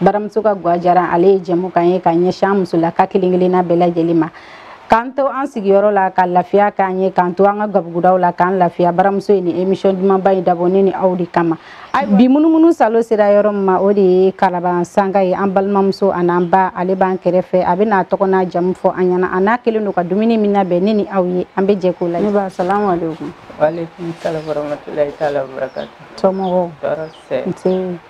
baramuso ka gwa jara ale ye jɛmukan ye ka ɲɛsin an musolaka kelen kelenna bɛɛ lajɛlen ma k'an to an sigiyɔrɔ la ka lafiya k'an ye k'an to an ka gabugudaw la k'an lafiya baramuso ye nin emisiyɔn dumanba in dabɔ ne ni aw de kama bi munumunu salo sera yɔrɔ min ma o de ye kalaban sanga ye an balimamuso an'an ba ale b'an kɛrɛfɛ a bɛ n'a tɔgɔ n'a jamu fɔ an ɲɛna a n'a kɛlen don ka dumuni min labɛn ne ni aw ye an bɛ jɛ k'o la ne ba salamu aleykum waaleykum salam warahmatulahi taala wabarakatu somɔgɔw tɔɔrɔ tɛ nse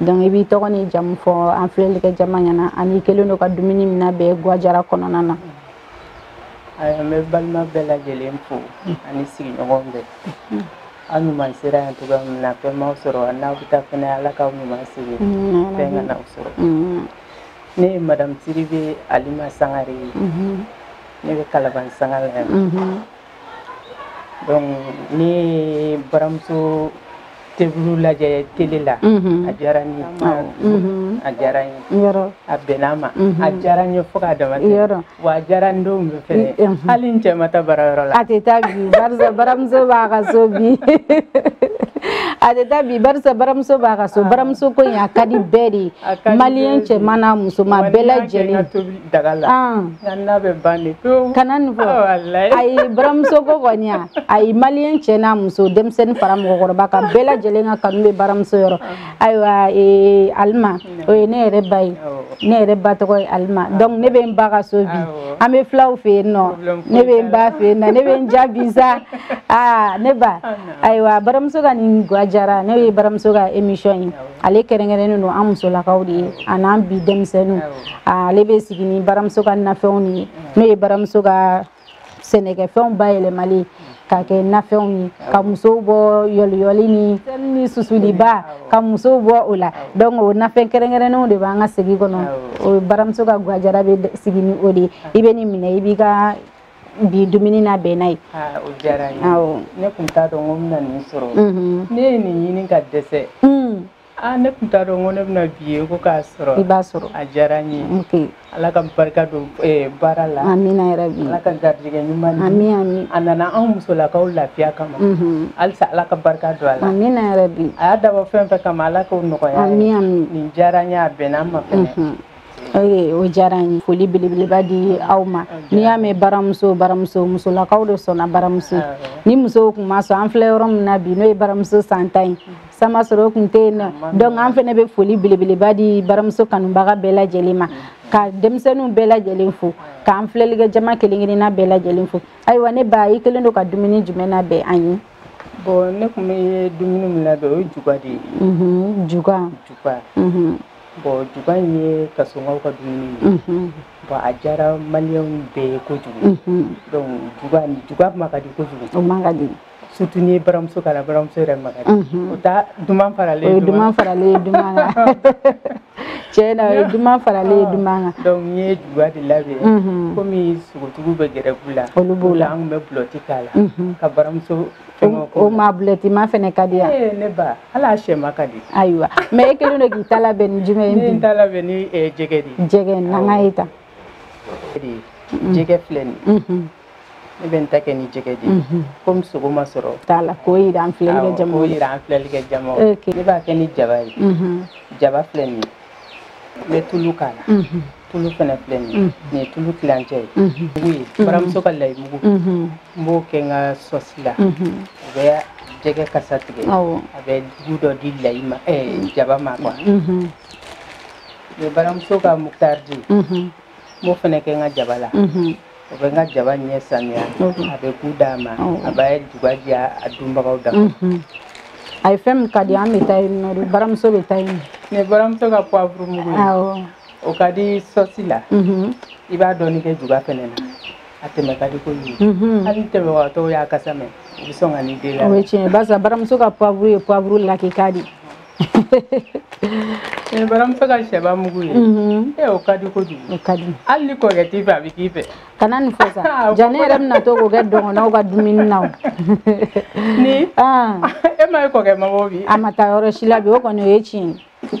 donc i b'i tɔgɔ n'i jamu fɔ an filɛlikɛ jama ɲɛna an'i kɛlen don ka dumuni min labɛn gwajara kɔnɔna na ayiwa n bɛ balima bɛɛ lajɛlen fo ani sigiɲɔgɔn bɛɛ aw ɲuman sera yan cogo min na fɛn m'aw sɔrɔ n'aw bɛ taa fɛnɛ ala k'aw ɲuman segin mm, fɛn kan'aw sɔrɔ mm. ne ye madamu sidibe alima sangare ye mm-hmm. ne bɛ kalaban sanga la yan mm-hmm. n ye baramuso tobili lajɛ tele la a diyara n ye a diyara n ye a bɛnna n ma a diyara n ye fo k'a damatɛmɛ wa a diyara n denw bɛɛ fɛnɛ hali n cɛ ma taa baara yɔrɔ la a tɛ taa bi barisa baramuso b'a ka so bi a tɛ taa bi barisa baramuso b'a ka so baramuso ko in a ka di bɛɛ de ye maliyɛn cɛman n'a musoman bɛɛ lajɛlen daga la n'a bɛ ban de pewu kana nin fɔ ayi baramuso ko kɔni a ayi maliyɛn cɛ n'a muso denmisɛnnin fara mɔgɔkɔrɔba kan bɛɛ lajɛlen ka kanu bɛ baramuso yɔrɔ ayiwa ee, alima o ye ne yɛrɛ ba ye ne yɛrɛ ba tɔgɔ ye alima donc ne bɛ n ba ka so bi an bɛ fulaw fɛ yen nɔ ne bɛ n ba fɛ yen nɔ ne bɛ n diya bi sa aa ne ba ayiwa baramuso ka nin gwa jara nin ye baramuso ka émission ye ale kɛrɛnkɛrɛnnen don an musolakaw de ye an'an bi denmisɛnninw ale bɛ sigi ni baramuso ka nafɛnw de ye n'o ye baramuso ka sɛnɛkɛfɛnw bayɛlɛmali ka kɛ nafɛnw ye ka musow bɔ yɔliyɔli ni susuliba ka musow bɔ o la donc o nafɛn kɛrɛnkɛrɛnnenw de b'an ka segi kɔnɔ o baramuso ka gwajara bɛ sigi ni o de ye i bɛ nin minɛ i b'i ka bi dumuni labɛn n'a ye o diyara n ye ne tun t'a dɔn ko n bɛna nin sɔrɔ ne ye nin ɲini ka dɛsɛ aa ne tun t'a dɔn ko ne bɛna bi ye ko k'a sɔrɔ i b'a sɔrɔ a diyara n ye ala ka barika don baara la amina yarabi ala ka garijɛgɛ ɲuman di ami ami a nana an musolakaw lafiya kama halisa ala ka barika don a la amina yarabi a y'a dabɔ fɛn fɛn kama ala k'o nɔgɔya ami ami nin diyara n ye a bɛnna n ma fɛnɛ o diyara n ye foli belebeleba di aw ma n'i y'a mɛn baramuso baramuso musolakaw de sɔnna baramuso ni musow tun ma sɔn an filɛ yɔrɔ min na bi n'o ye baramuso san tan ye sama sɔrɔ o tun tɛ yen nɔ donc an fana bɛ foli belebeleba di baramuso kanubaga bɛɛ lajɛlen ma ka denmisɛnninw bɛɛ lajɛlen fo k'an filɛlikɛ jama kelen kelenna bɛɛ lajɛlen fo ayiwa ne ba i kɛlen don ka dumuni jumɛn labɛn an ye bon ne tun bɛ dumuni min labɛn o ye juga de ye juga juga Bon juga in ye kasɔnkaw ka dumuni ye bon a diyara maliyɛn bɛɛ ye kojugu donc juga ma ka di kojugu ma ka di surtout ni baramuso k'a la baramuso yɛrɛ ma ka di o ta duman faralen duman faralen duman tiɲɛ na ye duman faralen ye duman kan donc i ye juga de labɛn kɔmi sogotigiw bɛ grève la olu b'o la an bɛ bulɛti k'a la ka baramuso o ma bulɛti ma fɛnɛ ka di yan eh, ne ba hali a sɛma ka di ayiwa mais e kɛlen don k'i ta labɛn ni jumɛn ye bi ne ta labɛn ni eh, jɛgɛ de ye jɛgɛ na an k'a ye tan mm-hmm. jɛgɛ filɛ nin mm-hmm. ne bɛ n ta kɛ ni jɛgɛ de ye mm-hmm. komi sogo ma sɔrɔ t'a la k'o yira an filɛli kɛ jama ne b'a kɛ ni jaba ye jaba filɛ nin ye n bɛ tulu k'a la tulu fana filɛ nin ye nin ye tulu tilancɛ ye baramuso ka layi mugu n b'o kɛ n ka sɔsi la o bɛ jɛgɛ kasa tigɛ a bɛ goût dɔ di layi ma jaba ma quoi n bɛ baramuso ka mutaridi n b'o fana kɛ n ka jaba la o bɛ n ka jaba ɲɛ saniya a bɛ goût d'a ma a b'a juga diya a dunbagaw da a ye fɛn min ka di an bɛ taa yen nɔ baramuso bɛ taa yen nin ye baramuso ka poivre mugu ye o ka di sɔsi la i b'a dɔɔni kɛ juga fɛnɛ na a tɛmɛ ka di koyi hali tɛmɛbagatɔw y'a kasa mɛn u bɛ sɔn ka n'i deli a la o ye tiɲɛ barisa baramuso ka poivre ye poivre lakika de ye Eh, baramuso ka sɛba mugu ye mhm. eh, o ka di kojugu o ka di hali ni kɔrɔkɛ t'i fɛ a bɛ k'i fɛ kana nin fɔ sa ah, ja ne yɛrɛ bɛna to k'o kɛ don o don n ka dumuni na o ni ah. e ma ye kɔrɔkɛ ma bɔ bi a ma taa yɔrɔ si la bi o kɔni o ye tiɲɛ ye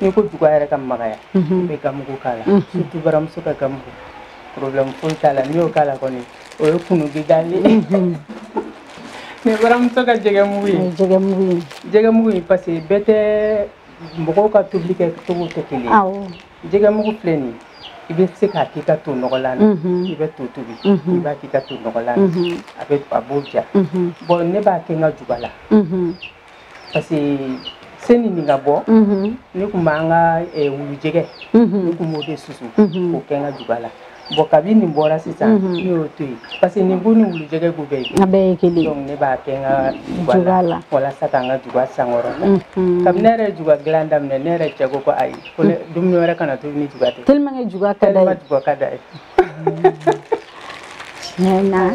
n'i ko juga yɛrɛ ka magaya i bɛ ganmugu k'a la surtout baramuso ka ganmugu problème foyi t'a la n'i y'o k'a la kɔni o ye kunu gidali ye nin ye baramuso ka jɛgɛmugu ye jɛgɛmugu ye parce que bɛɛ tɛ mɔgɔw ka tobili kɛ cogo tɛ kelen ye jɛgɛmugu filɛ nin ye i bɛ se k'a k'i ka to nɔgɔlan na i bɛ to tobi i b'a k'i ka to nɔgɔlan na a bɛ a b'o diya bɔn ne b'a kɛ n ka juga la parce que seni nin ka bɔ mhm. ne tun b'an ka eh, wulujɛgɛ mhm. ne tun b'o de susu mhm. k'o kɛ n ka juba la bɔn kabi nin bɔra sisan ne y'o to yen parce que nin goût ni wulujɛgɛ goût bɛɛ ye a bɛɛ ye kelen donc ne b'a kɛ n ka juba la walasa k'an ka juba sankɔrɔta kabi ne yɛrɛ juga dilan daminɛ ne yɛrɛ cɛ ko ko ayi ko dumuni wɛrɛ kana tobi ni juga tɛ tellement que juga ka d'a ye tellement juga ka d'a ye tiɲɛ na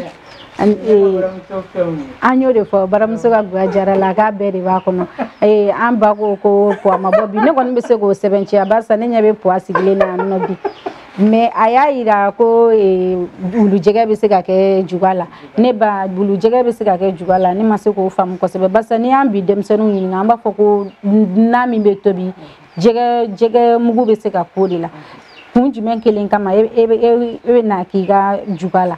an y'o de fɔ baramuso ka gwa jara la k'a bɛɛ de b'a kɔnɔ an ba ko ko puwa ma bɔ bi ne kɔni bɛ se k'o sɛmɛntiya barisa ne ɲɛ bɛ puwa sigilen na yan nɔ bi mais a y'a yira ko wulujɛgɛ bɛ se ka kɛ juga la ne ba wulujɛgɛ bɛ se ka kɛ juga la ne ma se k'o faamu kosɛbɛ barisa n'i y'an bi denmisɛnninw ɲininka an b'a fɔ ko na min bɛ tobi jɛgɛ jɛgɛ mugu bɛ se ka k'o de la kun jumɛn kelen kama e bɛ na k'i ka juga la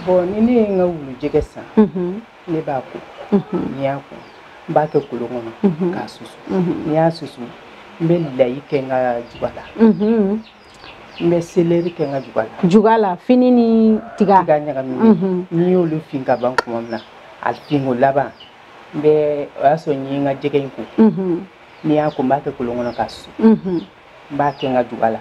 bon ni ne ye n ka wulujɛgɛ san mhm. ne b'a ko mhm. n'i y'a ko n b'a kɛ kolon kɔnɔ mhm. k'a susu n'i y'a susu n bɛ layi kɛ n ka juga la n bɛ seleri kɛ n ka juga la juga la fini ni tiga tiga ɲagaminen n'i y'olu fin ka ban tuma min na a finko laban n bɛ o y'a sɔrɔ n ye n ka jɛgɛ in ko n'i y'a ko n b'a kɛ kolon kɔnɔ k'a susu n b'a kɛ n ka juga la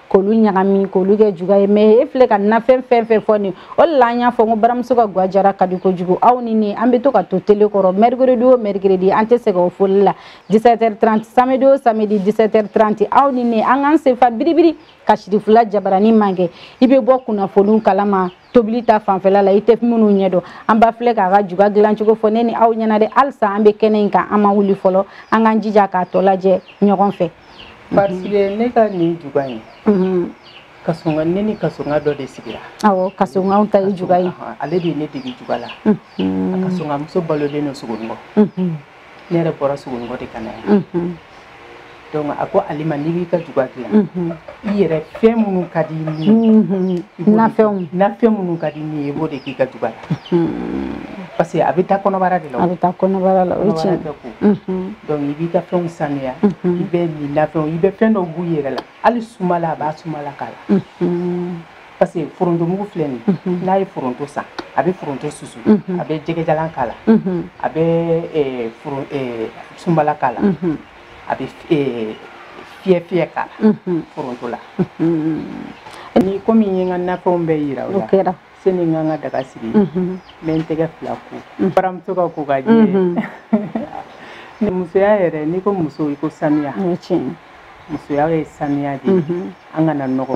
k'olu ɲagami k'olu kɛ juga ye mais e filɛ ka nafɛn fɛn fɛn fɔ nin o de la an y'a fɔ ko baramuso ka gwa jara ka di kojugu aw ni ne an bɛ to ka to tele kɔrɔ mercredi o mercredi an tɛ sɛgɛn o foli la 17h30 samedi o samedi 17h30 aw ni ne an k'an senfa biribiri ka sirifula jabarani magɛn i bɛ bɔ kunnafoniw kalama tobili ta fanfɛla la i tɛ minnu ɲɛ dɔn an ba filɛ k'a ka juga dilancogo fɔ ne ni aw ɲɛna dɛ halisa an bɛ kɛnɛ in kan an ma wuli fɔlɔ an k'an jija k'a tɔ lajɛ ɲɔgɔn fɛ parce que ne ka nin juga in mhm. kasonga ne ni kasonga dɔ de sigira awɔ kasongaw ta ye juga ye ale de ye ne dege juga la mhm. kasonga muso balolen don sogonikɔ mhm. ne yɛrɛ bɔra sogonikɔ de ka na yan donc a ko ale ma n'i b'i ka juga dilan i yɛrɛ fɛn minnu ka di ni nafɛnw nafɛn minnu ka di ni ye i b'o de k'i ka juga la parce que a bɛ taa kɔnɔbara de la a bɛ taa kɔnɔbara la o ye tiɲɛ bɛɛ ko donc i b'i ka fɛnw sanuya i bɛ nin nafɛnw i bɛ fɛn dɔw b'u yɛrɛ la hali sumala a b'a sumala k'a la parce que foronto mugu filɛ nin ye n'a ye foronto san a bɛ foronto susu a bɛ jɛgɛjalan k'a la a bɛ eh, foron- eh, sunbala k'a la a bɛ eh, fiyɛfiyɛ k'a la foronto la ni komi n ye n ka nafɛnw bɛɛ yira o o la kɛra sani n ka n ka daga sigi n bɛ n tɛgɛ fila ko n baramuso ka ko ka jɛ Ni musoya yɛrɛ n'i ko muso i ko sanuya o ye tiɲɛ ye. musoya ye sanuya de ye an kana nɔgɔ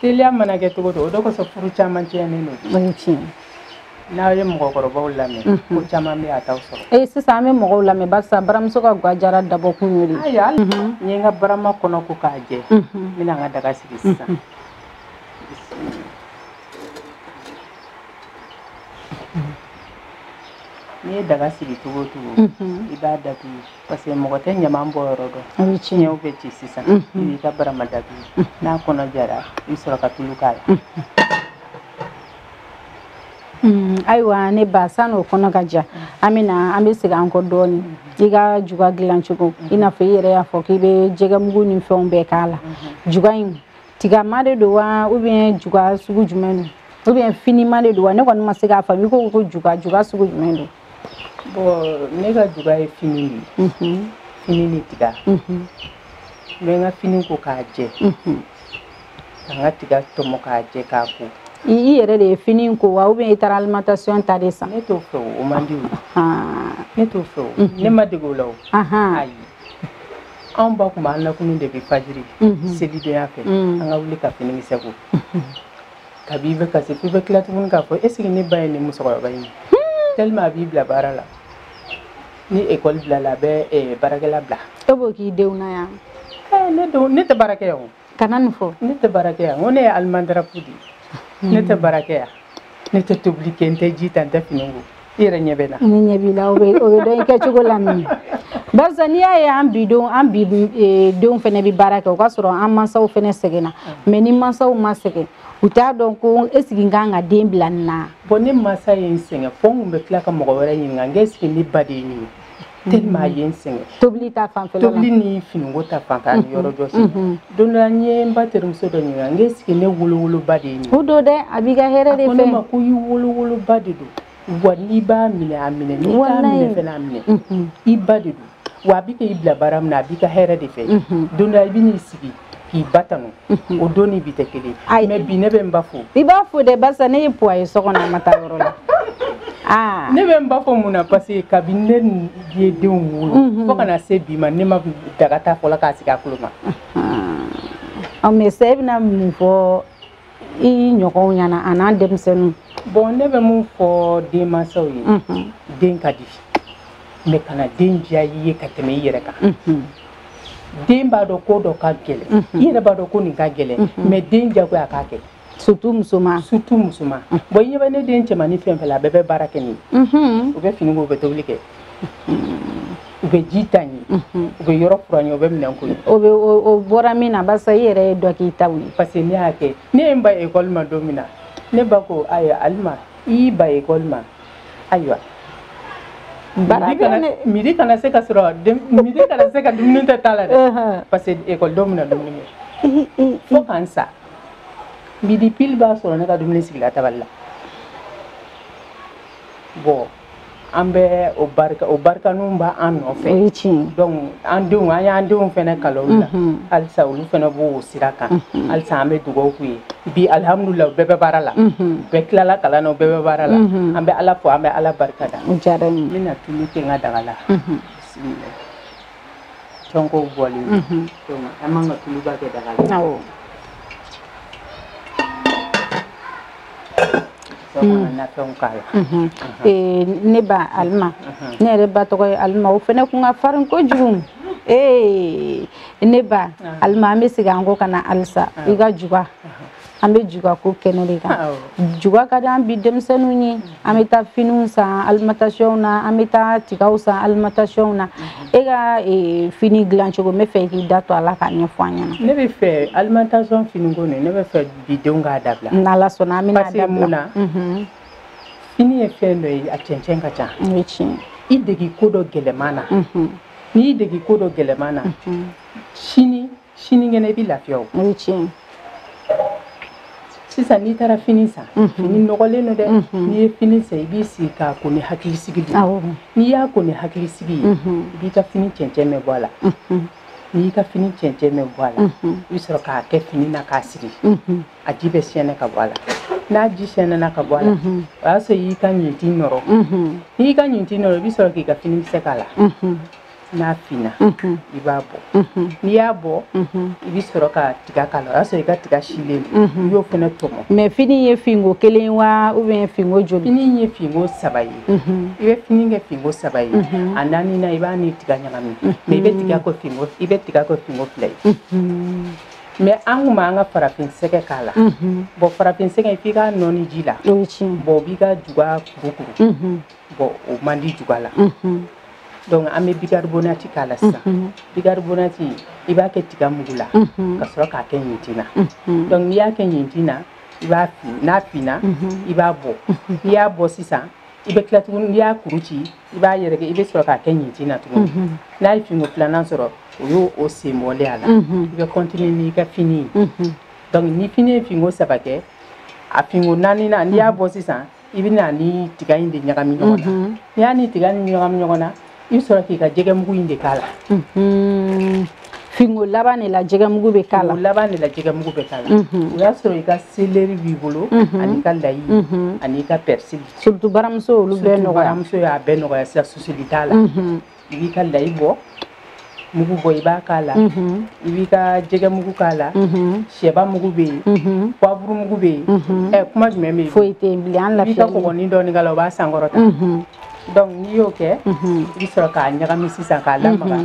teliya mana kɛ cogo o cogo o de kosɔn furu caman tiɲɛnen don o ye tiɲɛ n'aw ye mɔgɔkɔrɔbaw lamɛn mhm. ko caman bɛ yen a t'aw sɔrɔ ee sisan an bɛ mɔgɔw lamɛn barisa baramuso ka gwa jara dabɔkun y'o de ye ayiwa mhm. n ye n ka barama kɔnɔ ko k'a jɛ mhm. n bɛna n ka daga sigi sisan n'i ye daga sigi cogo o cogo i b'a datugu parce que mɔgɔ tɛ ɲaman bɔ yɔrɔ dɔn an bɛ fiɲɛw bɛ ci sisan i b'i ka barama datugu n'a kɔnɔ jara i sɔrɔ ka tulu k'a la ayiwa ne ba sani o kɔnɔ ka ja an bɛ na an bɛ segin an kɔ dɔɔnin i ka juga dilan cogo i n'a fɔ i yɛrɛ y'a fɔ k'i bɛ jɛgɛmugu ni fɛnw bɛɛ k'a la juga in tigama de don wa ou bien juga sugu jumɛn don ou bien finima de don wa ne kɔni ma se k'a faamu i ko ko juga juga sugu jumɛn don ne ka juga ye fini de ye fini ni tiga n bɛ n ka fini ko k'a jɛ ka n ka tiga tɔmɔ k'a jɛ k'a ko i yɛrɛ de ye fini ko wa ou bien i taara alimentation ta de san ne t'o fɛ o man di o ne t'o fɛ o ne ma dege o la o ayi anw ba tun b'an lakunun de bi fajiri selidonya fɛ an ka wuli ka finikisɛ ko Kabi i bɛ kasi f'i bɛ tila tuguni k'a fɔ est ce que ne ba ye nin musokɔrɔba in ye tellement a b'i bila baara la ni école bilala a bɛ eh, baarakɛla bila e b'o k'i denw na yan Eh, ne denw ne tɛ baara kɛ yan o kana nin fɔ ne tɛ baara kɛ yan n ko ne ye alimandarapu de ye ne tɛ baara kɛ yan ne tɛ tobili kɛ n tɛ ji ta n tɛ fini ko i yɛrɛ ɲɛ bɛ n na ne ɲɛ b'i la o bɛ o bɛ dɔn i kɛcogo la min barisa n'i y'a ye an bi denw an bi e, denw fana bɛ baara kɛ o ka sɔrɔ an mansaw fana sɛgɛnna mais ni mansaw ma sɛgɛn u t'a dɔn ko est ce que n ka kan ka den bila nin na bon ne mansa ye n sɛgɛn fo n tun bɛ tila ka mɔgɔ wɛrɛ ɲininka n ko est ce que ne ba de ye nin ye tellement a ye n sɛgɛn tobili ta fanfɛla la tobili ni finiko ta fanfɛ ani yɔrɔ jɔsi don dɔ la n ye n ba terimuso dɔ ɲininka n ko est ce que ne wolowoloba de ye nin o don dɛ a b'i ka hɛrɛ de fɛ a ko ne ma ko i wolowoloba de don wa n'i b'a minɛ a minɛ n'i t'a minɛ fɛnɛ a minɛ i ba de don wa a bɛ k'i bila baara min na a b'i ka hɛrɛ de fɛ don dɔ la i bɛ n'i sigi k'i ba tanu mhm. o don ni bi tɛ kelen mais bi ne bɛ n ba fo i b'a fo dɛ barisa ne ye poids ye so kɔnɔ a ma taa yɔrɔ la ah. ne bɛ n ba fo mun na parce que kabini ne ye denw wolo mhm. fo ka na se bi ma ne ma daga ta fɔlɔ k'a sigi gakulu ma ah. ɔ mais sa i bɛna mun fɔ i ɲɔgɔnw ɲɛna a n'an denmisɛnninw bon ne bɛ mun fɔ denmansaw ye mhm. den ka di mais kana den diya i ye ka tɛmɛ i yɛrɛ kan mhm. den b'a dɔn ko dɔ ka gɛlɛn mhm. i yɛrɛ b'a dɔn ko nin ka gɛlɛn mais den jagoya a k'a kɛ surtout musoman surtout musoman bon i ɲɛ bɛ ne den cɛmannin fɛn fɛn la a bɛɛ bɛ baara kɛ n ye o bɛ fini ko o bɛ tobili kɛ u bɛ ji ta n ye u bɛ yɔrɔ furan n ye u bɛ minɛn ko o bɛ o bɔra min na barisa i yɛrɛ ye dɔ k'i ta ye parce que ne y'a kɛ ne ye n ban ekɔli ma don min na ne ba ko ayiwa alima i y'i ban ekɔli ma ayiwa midi kana se ka sɔrɔ midi kana se ka dumuni to ta la dɛ parce que ekɔlidenw bɛna dumuni kɛ fo ka n sa midi pile b'a sɔrɔ ne ka dumuni sigila tabali la bon an bɛ o barika o barikaniw b'an nɔfɛ o ye tiɲɛ donc an denw an y'an denw fana kala olu la mhm. halisa olu fana b'o sira kan mhm. halisa an bɛ dugawu k'u ye bi alihamudulila u bɛɛ bɛ baara la mhm. bɛɛ tilala kalan na u bɛɛ bɛ baara la an bɛ ala fo an bɛ ala barika da o diyara n ye n bɛna tulu kɛ n ka daga la bisimila tɔnkow bɔlen don an man ka tuluba kɛ daga la awɔ ne ba alima ne yɛrɛ ba tɔgɔ ye alima o fana kun ka farin kojugu ee ne ba alima an bɛ segin an kɔ ka na halisa i ka juga an bɛ juga ko kɛnɛ de kan juga ka di an bi denmisɛnninw ye an bɛ taa finiw san alimatasiyɔnw na an bɛ taa tigaw san alimatasiyɔnw na e ka fini dilan cogo n bɛ fɛ k'i da to a la k'a ɲɛfɔ an ɲɛna ne bɛ fɛ alimatasiyɔn finiko nin ne bɛ fɛ bi denw k'a dabila n'ala sɔnna an bɛna dabila mun na mhm. fini ye fɛn dɔ ye a cɛncɛn ka ca o ye tiɲɛ i degi ko dɔ gɛlɛman na mhm. n'i y'i degi ko dɔ gɛlɛman na mhm. sini sinikɛnɛ i bɛ lafiya o o ye tiɲɛ sisan n'i taara fini san fini nɔgɔlen don dɛ n'i ye fini san i b'i sigi k'a ko ni hakilisigi de ye n'i y'a ko ni hakilisigi ye i b'i ka fini cɛncɛn bɛɛ bɔ a la n'i y'i ka fini cɛncɛn bɛɛ bɔ a la i bɛ sɔrɔ k'a kɛ fini na k'a siri a ji bɛ sɛɛnɛ ka bɔ a la n'a ji sɛɛnɛna ka bɔ a la o y'a sɔrɔ i y'i ka ɲintin nɔrɔ n'i y'i ka ɲintin nɔrɔ i bɛ sɔrɔ k'i ka fini kisɛ k'a la n'a finna i b'a bɔ n'i y'a bɔ i bɛ sɔrɔ ka tiga k'a la o y'a sɔrɔ i ka tiga silen i y'o fana tɔmɔ mais fini ye finko kelen wa ou bien finko joli fini ye finko saba ye i bɛ fini kɛ finko saba ye a naaninan i b'a ni tiga ɲagami mais i bɛ tiga kɛ finko i bɛ tiga kɛ finko fila ye mais an kun b'an ka farafin sɛgɛ k'a la bon farafin sɛgɛ f'i k'a nɔɔni ji la bon o b'i ka juga kurukuru bon o man di juga la donc an bɛ bigaribonati k'a la sisan bigaribonati i b'a kɛ tiga mugu la ka sɔrɔ k'a kɛ ɲintin na donc n'i y'a kɛ ɲintin na i b'a fin n'a finna i b'a bɔ n'i y'a bɔ sisan i bɛ tila tuguni n'i y'a kuru ci i b'a yɛrɛkɛ i bɛ sɔrɔ k'a kɛ ɲintin na tuguni n'a ye finko filanan sɔrɔ o y'o sen bɔlen a la i bɛ continuer n'i ka fini ye donc ni fini ye finko saba kɛ a finko naaninan n'i y'a bɔ sisan i bɛ na ni tiga in de ɲagami ɲɔgɔn na n'i y'a ni tiga nin ɲagami ɲɔgɔn na i bɛ sɔrɔ k'i ka jɛgɛmugu in de k'a la finko laban de la jɛgɛmugu bɛ k'a la laban de la jɛgɛmugu bɛ k'a la o y'a sɔrɔ i ka seleri b'i bolo an'i ka layi an'i ka pɛrisili surtout baramuso olu bɛɛ nɔgɔya baramuso y'a bɛɛ nɔgɔya sisan susuli t'a la i b'i ka layi bɔ mugu bɔ i b'a k'a la mhm. i b'i ka jɛgɛ mugu k'a la mhm. sɛba mugu bɛ yen mhm. poivre mugu bɛ yen ɛ kuma jumɛn bɛ yen foyi tɛ yen bilen an lafiya i b'i ka kɔgɔnin dɔɔni k'a la o b'a sankɔrɔta donc n'i y'o kɛ i bɛ sɔrɔ k'a ɲagami sisan k'a lamaga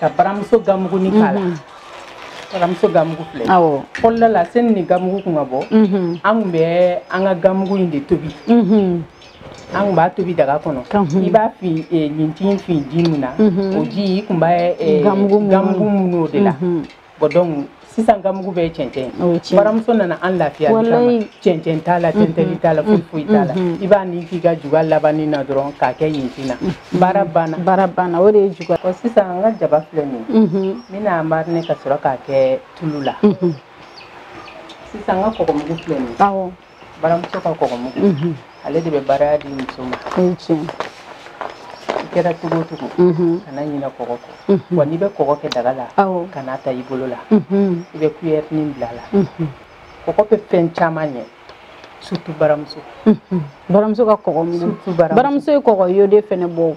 ka baramuso gamuguni k'a la baramuso gamugu filɛ awɔ fɔlɔ la sani ni gamugu kun ka bɔ an kun bɛ an ka gamugu in de tobi an kun b'a tobi daga kɔnɔ i b'a fi e, ɲintin fi ji min na mhm. o ji i kun b'a e, e, gamugu mun o de la mhm. bon donc sisan gamugu bɛɛ cɛncɛn baramuso nana an lafiya cɛncɛn t'a la mhm. tɛntɛli t'a la foyi foyi t'a la i b'a ni k'i ka juga labanni na dɔrɔn k'a kɛ ɲintin na baara banna baara banna o de ye juga ɔ sisan an ka jaba filɛ nin ye n bɛna mariner ka sɔrɔ k'a kɛ tulu la sisan an ka kɔgɔmugu filɛ nin ye baramuso ka kɔgɔ mugu mhm. ale de bɛ baraya di muso ma i kɛra cogo o cogo mhm. kana ɲinɛ kɔgɔ kɔ mhm. wa n'i bɛ kɔgɔ kɛ daga la kan'a ta i bolo la mhm. i bɛ kuyɛrinin bil'a la kɔgɔ bɛ fɛn caman ɲɛ surtout baramuso baramuso ka kɔgɔ mugu baramuso ye kɔgɔ iodé fɛnɛ bɔ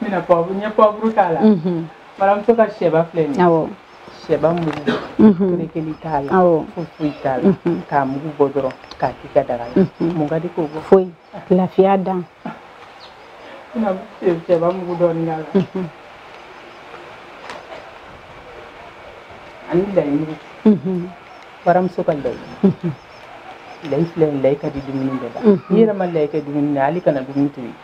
n bɛna poivre n ye poivre k'a la baramuso ka sɛba filɛ nin ye sɛba mugu kerekeli t'a la foyi foyi t'a la k'a mugu bɔ dɔrɔn k'a k'i ka daga la mun ka di k'o bɔ foyi lafiya dan n bɛna sɛba mugu dɔɔni k'a la ani layi mugu baramuso ka layi layi filɛ nin layi ka di dumuni bɛɛ la n'i yɛrɛ ma layi kɛ dumuni na hali kana dumuni tobi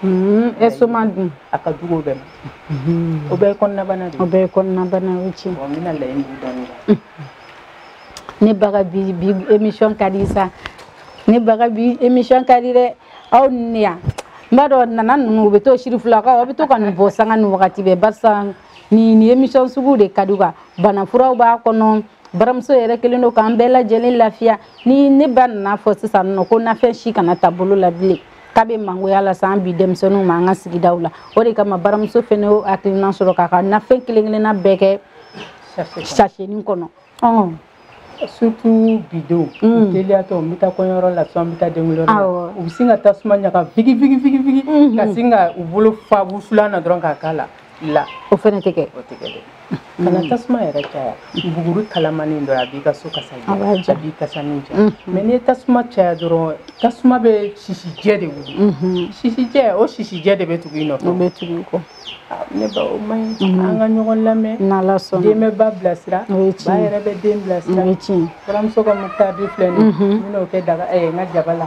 Hmm, estomac dun a ka jugu o bɛɛ ma hmm. o bɛɛ ye kɔnɔnabana de o bɛɛ ye kɔnɔnabana o tiɲɛ n bɛna layi mugu dɔɔni hmm. ne ba ka bi bi émission ka di sa ne ba ka bi émission ka di dɛ aw ni ne yan n b'a dɔn nana ninnu u bɛ to sirifilakaw aw bɛ to ka nin bɔ sanga ni wagati bɛɛ barisa nin nin émission sugu de ka di u ka banafuraw b'a kɔnɔ baramuso yɛrɛ kɛlen don k'an bɛɛ lajɛlen lafiya ni ne ba nan'a fɔ sisan nɔ ko nafɛn si kana ta bolo la bilen k'a bɛ mangoya lase an bi denmisɛnninw ma an ka sigidaw la o de kama baramuso fɛnɛ y'o hakilina sɔrɔ k'a ka nafɛn kelen kelenna bɛɛ kɛ sasenin kɔnɔ surtout bi denw mm. teliyatɔ n bɛ taa kɔɲɔyɔrɔ la sisan n bɛ taa denkunliyɔrɔ la u bɛ sin ka tasuma ɲaga vigivigivigi ka sin ka u bolo fa wusulan na dɔrɔn k'a k'a la la o fɛnɛ tɛ kɛ o tɛ kɛ dɛ kana tasuma yɛrɛ caya buguri kalamanin dɔrɔn a b'i ka so kasa diya a b'i kasanin diya mm-hmm. mais n'i ye tasuma caya dɔrɔn tasuma bɛ sisijɛ de wuli mm-hmm. sisijɛ o sisijɛ de bɛ tugu i nɔfɛ o bɛ tugu i kɔ ah, ne ba o man ɲi mm-hmm. an ka ɲɔgɔn lamɛn n'ala sɔnna den bɛ ba bilasira ba yɛrɛ bɛ den bilasira o ye tiɲɛ baramuso ka moutarde filɛ nin ye n bɛn'o kɛ daga ɛɛ n ka jaba la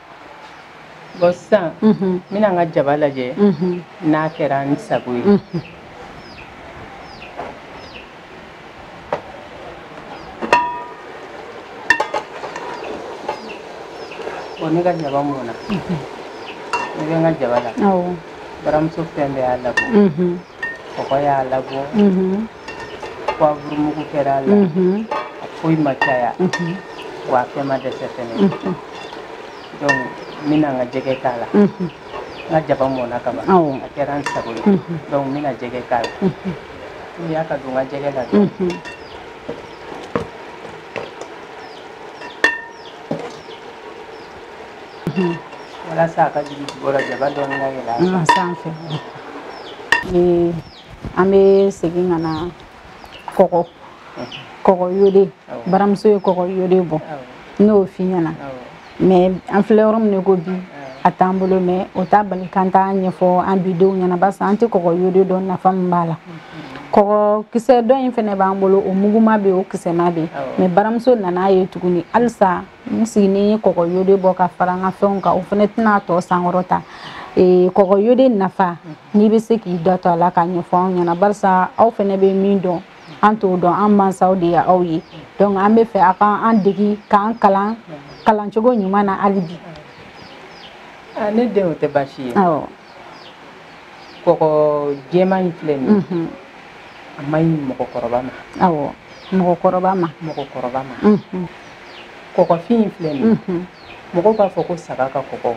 bɔn sisan n bɛna n ka jaba lajɛ n'a kɛra n sago ye bɔn ne ka jaba mɔna ne bɛ n ka jaba la baramuso fɛn bɛɛ y'a labɔ kɔgɔ y'a labɔ pwavuru mugu kɛra a la mhm. a foyi ma caya mhm. wa a fɛn ma dɛsɛ fɛnɛ mhm. donc n bɛna n ka jɛgɛ k'a la n ka jaba mɔna ka ban a kɛra n sago ye donc n bɛna jɛgɛ k'a la timiya ka don n ka jɛgɛ la dɔrɔn walasa a ka jigin jukɔrɔ jaba dɔɔni ka yɛlɛ a sanfɛ ni an bɛ segin ka na kɔgɔ kɔgɔ yode baramuso ye kɔgɔ yode bɔ n'o f'i ɲɛna mɛ an filɛ yɔrɔ min ko bi a t'an bolo mɛ o t'a bali k'an t'a ɲɛfɔ an bi denw ɲɛna barisa an tɛ kɔgɔ yode dɔn nafa min b'a la kɔgɔ kisɛ dɔ in fɛnɛ b'an bolo o muguma bɛ o kisɛma bɛ mɛ baramuso nana ye tuguni halisa n sigini ye kɔgɔ yode bɔ ka fara n ka fɛnw kan o fɛnɛ tɛna tɔgɔ sankɔrɔta eh, kɔgɔ yode nafa n'i bɛ se k'i da to a la k'a ɲɛfɔ anw ɲɛna barisa aw fɛnɛ bɛ min dɔn an t'o dɔn an mansaw de ye aw ye donc an b'a fɛ a ka an degi k'an kalan kalan cogo ɲuman na hali bi ah, ne den o tɛ baasi ye kɔgɔ jɛman in filɛ nin ye a man ɲi mɔgɔkɔrɔba ma awɔ mɔgɔkɔrɔba ma mɔgɔkɔrɔba ma kɔgɔfin in filɛ nin ye mɔgɔw b'a fɔ ko saga ka kɔgɔ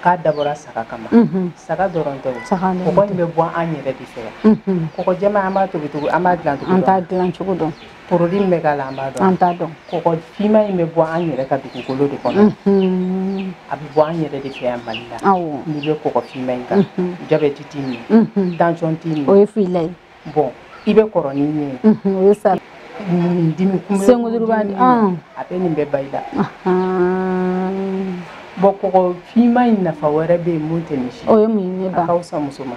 k'a dabɔra saga kama saga dɔrɔn tɛ kɔgɔ in bɛ bɔ an yɛrɛ de fɛ yan kɔgɔ jɛma an b'a tobi tobi an b'a dilan tobi an t'a dilan cogo dɔn porodi min bɛ k'a la an b'a dɔn an t'a dɔn kɔgɔ finma in bɛ bɔ an yɛrɛ ka dugukolo de kɔnɔ a bɛ bɔ an yɛrɛ de fɛ yan mali la n'i bɛ kɔgɔ finma in kan jabɛti t'i minɛ tansɔn t'i minɛ o ye fila ye bɔn i bɛ kɔrɔ ni min ye o ye sa dimi kunbɛ senkuru b'a di a bɛ nin bɛɛ bɔ i la bɔn kɔgɔ finma in nafa wɛrɛ bɛ yen min tɛ nin si o ye mun ye ba ka fisa muso ma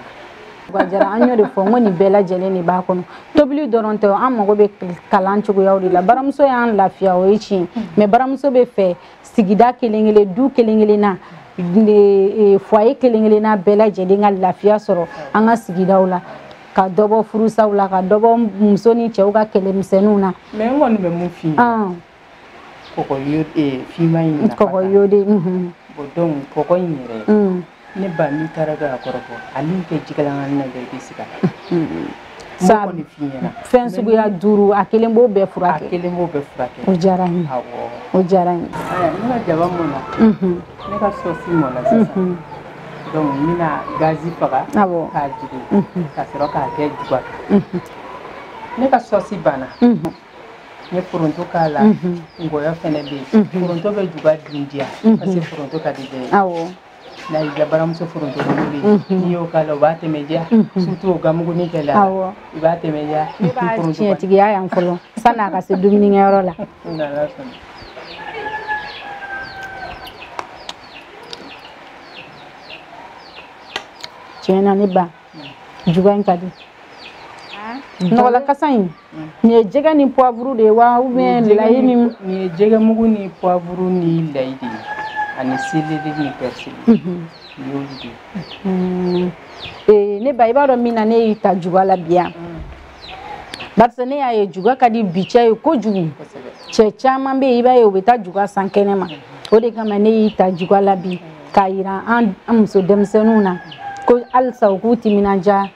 Bajara an y'o de fɔ n ko nin bɛɛ lajɛlen de b'a kɔnɔ tobili dɔrɔn tɛ an mago bɛ kalan cogoyaw de la baramuso y'an lafiya o ye tiɲɛ mais baramuso b'a fɛ sigida kelen-kelen du kelen-kelen na e, foyer kelen-kelen na bɛɛ lajɛlen ka lafiya sɔrɔ an ka sigidaw la ka dɔ bɔ furusaw la ka dɔ bɔ muso ni cɛw ka kɛlɛmisɛnninw na mais n kɔni bɛ min f'i ye kɔgɔ yode finma in kɔgɔ yode donc kɔgɔ in yɛrɛ ne ba n'i taara dɔ a kɔrɔ fɔ ani kɛ jikalan na bɛɛ bɛ sigi sa kɔni fi ɲɛna fɛn suguya duuru a kelen b'o bɛɛ furakɛ a kelen b'o bɛɛ furakɛ o diyara n ye o diyara n ye ne ka jaba mɔna ne ka sɔsi mɔna sisan donc n bɛna gazi faga k'a jigin ka sɔrɔ k'a kɛ juga ne ka sɔsi banna n ye foronto k'a la ngɔyɔ fɛnɛ bɛ yen foronto bɛ juga dun diya parce que foronto ka di bɛɛ ye n'a y'i ka baramuso foronto mugu de ye n'i y'o k'a la o b'a tɛmɛ diya surtout o gamugunin kɛlen a la Awɔ. i b'a tɛmɛ diya ne b'a foronto kɔni tiɲɛtigiya yan fɔlɔ sanni a ka se dumunikɛyɔrɔ la ni Ala sɔnna. tiɲɛ na ne ba juga in ka di nɔgɔlan kasa in nin ye jɛgɛ ni poivre de ye wa ou bien layi ni nin ye jɛgɛ mugu ni poivre ni layi de ye ani seleri ni persil y'olu de ye ee ne ba i b'a dɔn min na ne y'i ta juga la bi yan barisa ne y'a ye juga ka di bi cɛ ye kojugu cɛ caman bɛ yen i b'a ye u bɛ taa juga san kɛnɛ ma o de kama ne y'i ta juga la bi k'a yira an muso denmisɛnninw na ko halisa u k'u timinandiya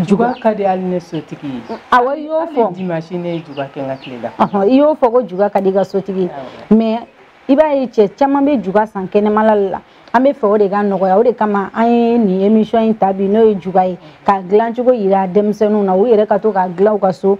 juga ka di hali ne sotigi ye awɔ i y'o fɔ dimanche ne ye juga kɛ n ka tile la i y'o fɔ ko juga ka di i ka sotigi ye mais i b'a ye cɛ caman bɛ juga san kɛnɛmala la an bɛ fɛ o de ka nɔgɔya o de kama an ye nin émission in ta bi n'o ye juga ye k'a dilancogo yira denmisɛnninw na u yɛrɛ ka to k'a dilan u ka so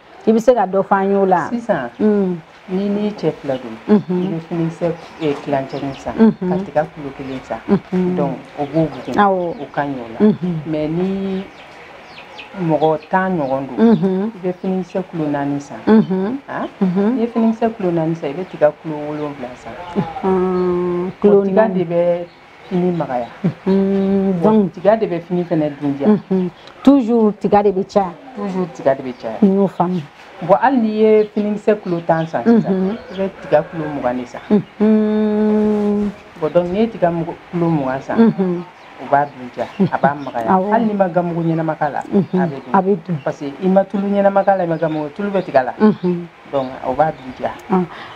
i bɛ se ka dɔ fɔ an y'o la sisan mm. n'i n'i cɛ fila don mhm. i bɛ finikisɛ eh, tilancɛnin san mhm. ka tiga kulo kelen san mhm. donc o b'o bugun o ka ɲɛ o la mais ni mɔgɔ tan ɲɔgɔn don i bɛ finikisɛ kulo naani san ah? n'i ye finikisɛ kulo naani san i bɛ tiga kulo wolonwula san kulo tiga de bɛ fini magaya donc tiga de bɛ fini fɛnɛ dundiya toujours tiga de bɛ caya toujours tiga de bɛ caya n y'o faamu bon hali n'i ye finikisɛ kulo tan san sisan i bɛ tiga kulo mugan de san bon donc n'i ye tiga kulo mugan san o b'a dundiya a b'a magaya hali n'i ma gamugu ɲɛnama k'a la a bɛ dun a bɛ dun parce que i ma tulu ɲɛnama k'a la i ma gamugu tulu bɛ tiga la donc o b'a dundiya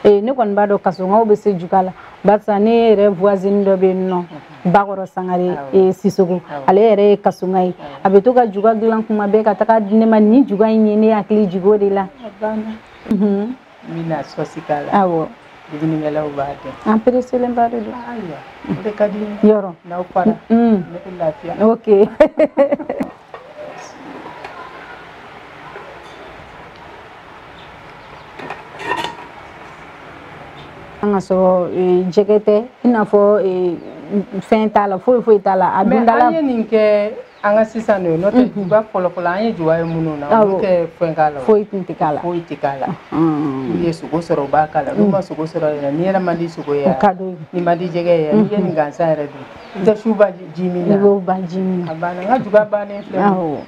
ne kɔni b'a dɔn kasɔngaw bɛ se juga la barisa ne yɛrɛ voisine dɔ bɛ yen nɔ bakɔrɔ sangare e, sisoko ale yɛrɛ ye kasɔnga ye a bɛ to ka juga dilan kuma bɛɛ ka taa k'a di ne ma n ye juga in ye ne hakili jigin o de la n bɛna sɔsi k'a la awɔ dumunikɛlaw b'a kɛ an pereselenba de don ayiwa o de ka di n ye yɔrɔ n'aw fara ne bɛ lafiya ok an ka sɔrɔ eh, jɛgɛ tɛ i n'a fɔ eh, fɛn t'a la foyi foyi t'a la a dundala. mais an ye nin kɛ an ka sisan de ye n'o tɛ juga fɔlɔfɔlɔ an ye juga ye minnu na olu tɛ fɛn k'a la foyi tun tɛ k'a la foyi tɛ k'a la n'u ye sogo sɔrɔ u b'a k'a la n'u ma sogo sɔrɔ yɛrɛ n'i yɛrɛ man di sogo ye n'i man di jɛgɛ ye n'i ye nin gansan yɛrɛ dun. Tɛ su ba ji min na. I b'o ba ji min na. A banna n ka juga bannen filɛ. Awɔ.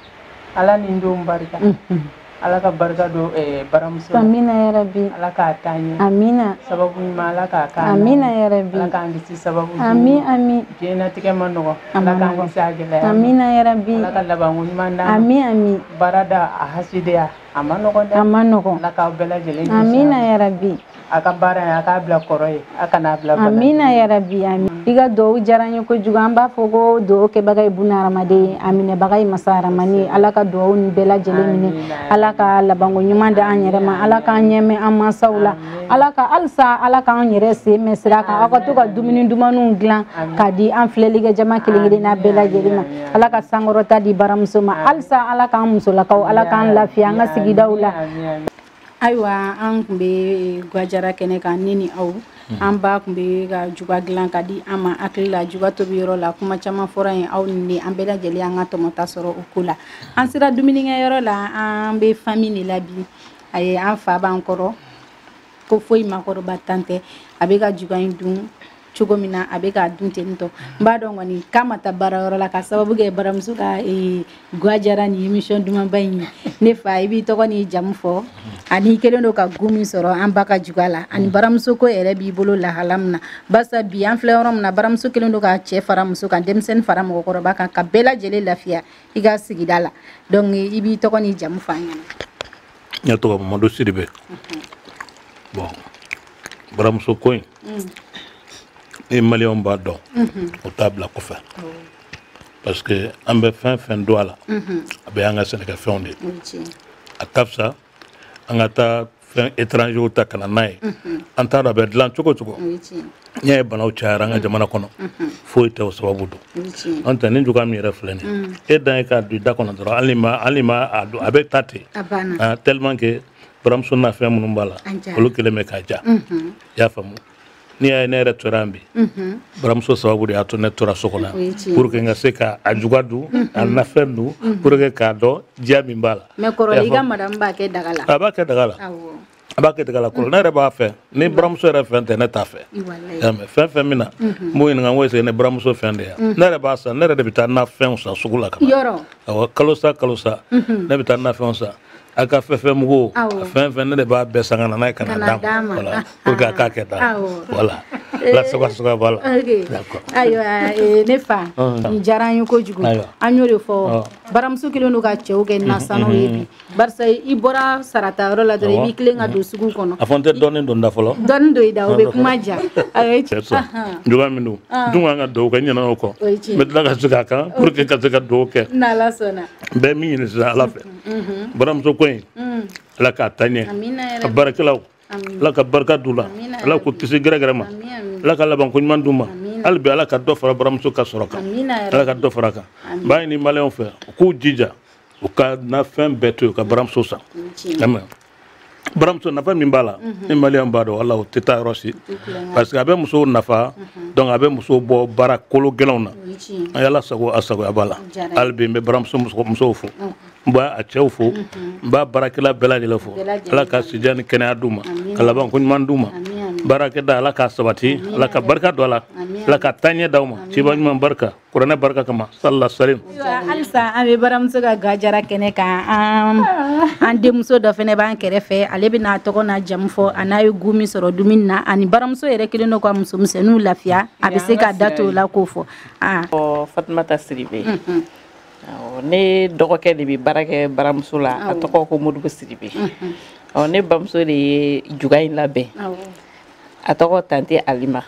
Ala ni n denw barika. Unhun. Ala ka barika don ɛɛ baramuso la. Amina yarabi. Ala k'a taa ɲɛ. Amina. Sababu ɲuman Ala k'a k'a la. Amina yarabi. Ala k'an kisi sababu jugu ma. Ami ami. Diɲɛnatigɛ ma nɔgɔ. A ma nɔgɔ. Ala k'an kisi a gɛlɛya ma. Amina yarabi. Ala ka labanko ɲuman d'an ma. Ami ami. Baarada a hasidiya. A ma nɔgɔn dɛ. A ma nɔgɔn. Ala k'aw bɛɛ lajɛlen kisi. Amina yarabi. A ka baara in a k'a bila kɔrɔ ye. A kan'a bila bana ye. Amina yarabi ami. I ka duwawu diyara an ye kojugu. An b'a fɔ ko duwawu kɛbaga ye buna hadamaden ye, a minɛbaga ye masa rahamani ye. Ala ka duwawu nin bɛɛ lajɛlen minɛ. Ala ka labanko ɲuman di an yɛrɛ ma. Ala k'an ɲɛ mɛɛn an mansaw la. Ala ka halisa Ala k'an yɛrɛ sen mɛɛn sira kan. Aw ka to ka dumuni dumanniw dilan k'a di an filɛlikɛ jama kelen kelenna bɛɛ lajɛlen ma. ala ka sankɔrɔta di baramuso ma halisa ala k'an musolakaw ala k'an lafiya an ka sigidaw la ayiwa an tun bɛ gwajara kɛnɛ kan ne ni aw mhm. an ba tun bɛ ka juga dilan k'a di an ma hakili la juga tobi yɔrɔ la kuma caman fɔra yen aw ni an bɛɛ lajɛlen an ka tɔmɔta sɔrɔ o ko la an sera dumunikɛ yɔrɔ la an bɛ famille de la bi a ye an fa b'an kɔrɔ ko foyi makɔrɔba tana tɛ a bɛ ka juga in dun cogo min na a bɛ k'a dun ten tɔ n b'a dɔn kɔni k'a ma taa baarayɔrɔ la ka sababu kɛ baramuso ka eh, gwajara ni émission dumanba in ye ne fa i b'i tɔgɔ n'i jamu fɔ ani i kelen don ka goût min sɔrɔ an ba ka juga la ani baramuso ko yɛrɛ b'i bolo lahala min na barisa bi an filɛ yɔrɔ min na baramuso kelen don ka cɛ fara muso kan denmisɛnnin fara mɔgɔkɔrɔba kan ka bɛɛ lajɛlen lafiya i ka sigida la donc i b'i tɔgɔ n'i jamu fɔ an ɲɛna ne tɔgɔ mamadu sidibe bon baramuso ko in ni maliyɛnw b'a dɔn u t'a bila kɔfɛ parce que an bɛ fɛn fɛn don a la a bɛɛ y'an ka sɛnɛkɛfɛnw de a ka fisa an ka taa fɛn étrangers ta ka na n'a ye an t'a dɔn a bɛ dilan cogo cogo n'i y'a ye banaw cayara an ka jamana kɔnɔ foyi tɛ o sababu don n'o tɛ nin juga min yɛrɛ filɛ nin mm. e dan ye k'a don i da kɔnɔ dɔrɔn hali ma hali ma a don a bɛ taa ten ah, tellement que baramuso nafɛn minnu b'a la olu kelen bɛ k'a diya mm-hmm. i y'a faamu n'i y'a ye ne yɛrɛ tora yan bi mm-hmm. baramuso sababu de y'a to ne tora so kɔnɔ yan pour que n ka se ka a juga dun mm-hmm. a nafɛn dun pour que k'a dɔn diya min b'a la mais kɔrɔlen i ka madame b'a kɛ daga la a b'a kɛ daga la a b'a kɛ tiga la kɔrɔ ne yɛrɛ b'a fɛ ni baramuso yɛrɛ fɛn tɛ ne t'a fɛ y'a mɛ fɛn fɛn min na n b'o ɲininka n ko est-ce que nin baramuso fɛn de ya ne yɛrɛ b'a san ne yɛrɛ de bɛ taa nafɛnw san sugu la ka na awɔ kalo sa kalo sa ne bɛ taa nafɛnw san a ka fɛfɛ mugu a fɛn fɛn ne de b'a bɛɛ san ka na n'a ye ka na d'a ma voilà pour que a k'a kɛ tan voilà la soga soga b'a la d'accord ayiwa eh, ne fa nin diyara an ye kojugu an y'o de fɔ baramuso kɛlen don ka cɛw kɛ nasannaw ye bi barisa i bɔra sara ta yɔrɔ la dɔrɔn i b'i tilen ka don sugu kɔnɔ a fɔ n tɛ dɔɔnin don da fɔlɔ dɔɔnin don i da o bɛ kuma ja a ye cɛ sɔn juguya min don dun ka kan ka dugawu kɛ n ɲinɛna o kɔ n bɛ tila ka segin a kan pour que ka se ka dugawu kɛ n'ala sɔnna n bɛ min ɲini sisan ala fɛ baramuso ko in ala k'a taa ɲɛ a baarakɛlaw ala ka barika d'u la ala k'u kisi gɛrɛgɛrɛ ma ala ka labanko ɲuman d'u ma hali bi ala ka dɔ fara baramuso ka sɔrɔ kan ala ka dɔ fara a kan n b'a ɲini maliyɛnw fɛ u k'u jija u ka nafɛn bɛɛ to yen ka baramuso san baramuso nafa min b'a la ni maliyɛn b'a dɔn walayi u tɛ taa yɔrɔ si parce que a bɛ musow nafa donc a bɛ musow bɔ baara kolo gɛlɛnw na an y'ala sago a sagoya b'a la hali bi n bɛ baramuso musow fo n b'a a cɛw fo n b'a baarakɛla bɛɛ lajɛlen fo ala ka sijan ni kɛnɛya d'u ma ka labanko ɲuman d'u ma baarakɛda ala k'a sabati ala ka barika don a la ala ka taaɲɛ d'aw ma ciba ɲuman barika kuranɛ barika kama salala salim halisa an bɛ baramuso ka ga jara kɛnɛ kan an an denmuso dɔ fɛnɛ b'an kɛrɛfɛ ale bɛna a tɔgɔ n'a jamu fɔ an'a ye goût min sɔrɔ dumuni na ani baramuso yɛrɛ kɛlen don ka muso misɛnninw lafiya a bɛ se ka da t'o la k'o fɔ fatumata sidibe mhm. ne dɔgɔkɛ de bɛ baara kɛ baramuso la a tɔgɔ ko modibo sidibe mhm. ne bamuso de ye juga in labɛn a tɔgɔ tante alima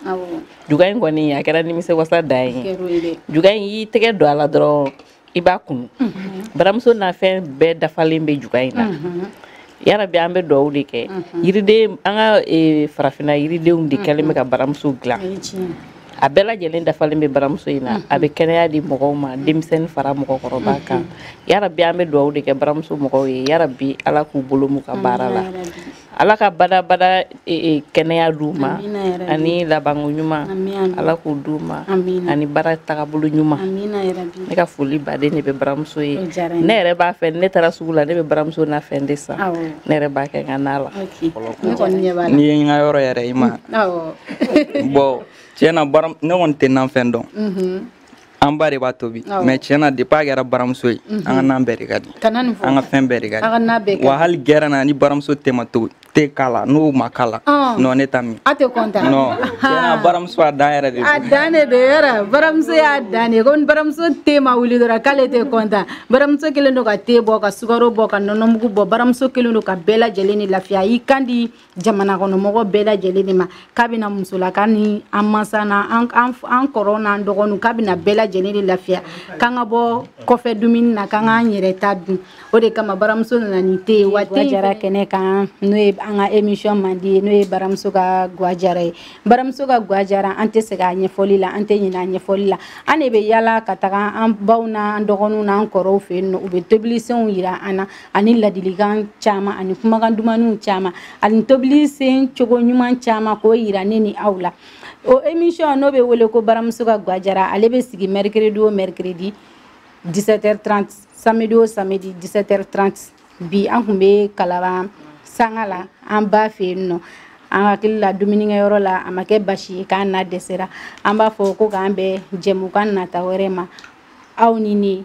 juga in kɔni a kɛra nimisi wasa dan ye juga in y'i tɛgɛ don a la dɔrɔn i b'a kunu mhm. baramuso nafɛn bɛɛ dafalen bɛ juga in na mhm. yarabi an bɛ dugawu de kɛ mhm. yiriden an ka e, farafinna yiridenw de kɛlen bɛ ka baramuso dilan a bɛɛ lajɛlen dafalen bɛ baramuso in na a bɛ kɛnɛya di mɔgɔw ma denmisɛnnin fara mɔgɔkɔrɔba kan yarabi an bɛ dugawu de kɛ baramuso mɔgɔw ye yarabi ala k'u bolo mɛɛn u ka baara la ala ka badabada e, e, kɛnɛya d'u ma ani labanko ɲuman ala k'o d'u ma ani baara tagabolo ɲuman ne ka foliba de bɛ baramuso ye ne yɛrɛ b'a fɛ ne taara sugu la ne bɛ baramuso nafɛn de san ne yɛrɛ b'a kɛ n ka na la n'i ye n ka yɔrɔ yɛrɛ i ma bɔn tiɲɛ na ne kɔni tɛ nafɛn dɔn mhm. an ba de b'a tobi mais tiɲɛ na depuis a kɛra baramuso ye an ka nan bɛɛ de ka di an ka fɛn bɛɛ de ka di wa hali gɛrɛn na ni baramuso te ma tobi tɛ k'a la n'o ma k'a la non ne t'a min a tɛ content non tiɲɛ na baramuso a dan yɛrɛ de a dan de don yɛrɛ baramuso y'a dan de ye ko ni baramuso te ma wuli dɔrɔn k'ale tɛ content baramuso kelen don ka te bɔ ka sukaro bɔ ka nɔnɔmugu bɔ baramuso kelen don ka bɛɛ lajɛlen ni lafiya y'i kan di jamana kɔnɔ mɔgɔ bɛɛ lajɛlen de ma k'a bɛna musolaka ni an mansa na an kɔrɔw n'an dɔgɔninw k'a bɛna bɛɛ lajɛlen de lafiya k'an ka bɔ kɔfɛ dumuni na k'an k'an yɛrɛ ta dun o de kama baramuso nana ni te ye wa den jara kɛnɛ kan n'o ye an ka émission mandi ye n'o ye baramuso ka gwajara ye baramuso ka gwajara an tɛ segin a ɲɛfɔli la an tɛ ɲinɛ a ɲɛfɔli la an de bɛ yala ka taga an baw n'an dɔgɔninw n'an kɔrɔw fɛ yen nɔ u bɛ tobilisenw jira an na ani ladilikan caman ani kumakan dumaniw caman ani tobili sen cogo ɲuman caman k'o yira ne ni aw la o émission n'o bɛ wele ko baramuso ka gwajara ale bɛ sigi mercredi o mercredi 17h30 samedi o samedi 17h30 bi an tun bɛ kalaban sanga la an ba fɛ yen nɔ an hakili la dumunikɛyɔrɔ la a ma kɛ basi ye k'an na dɛsɛra an b'a fɔ ko k'an bɛn jɛmukan nata wɛrɛ ma aw ni ne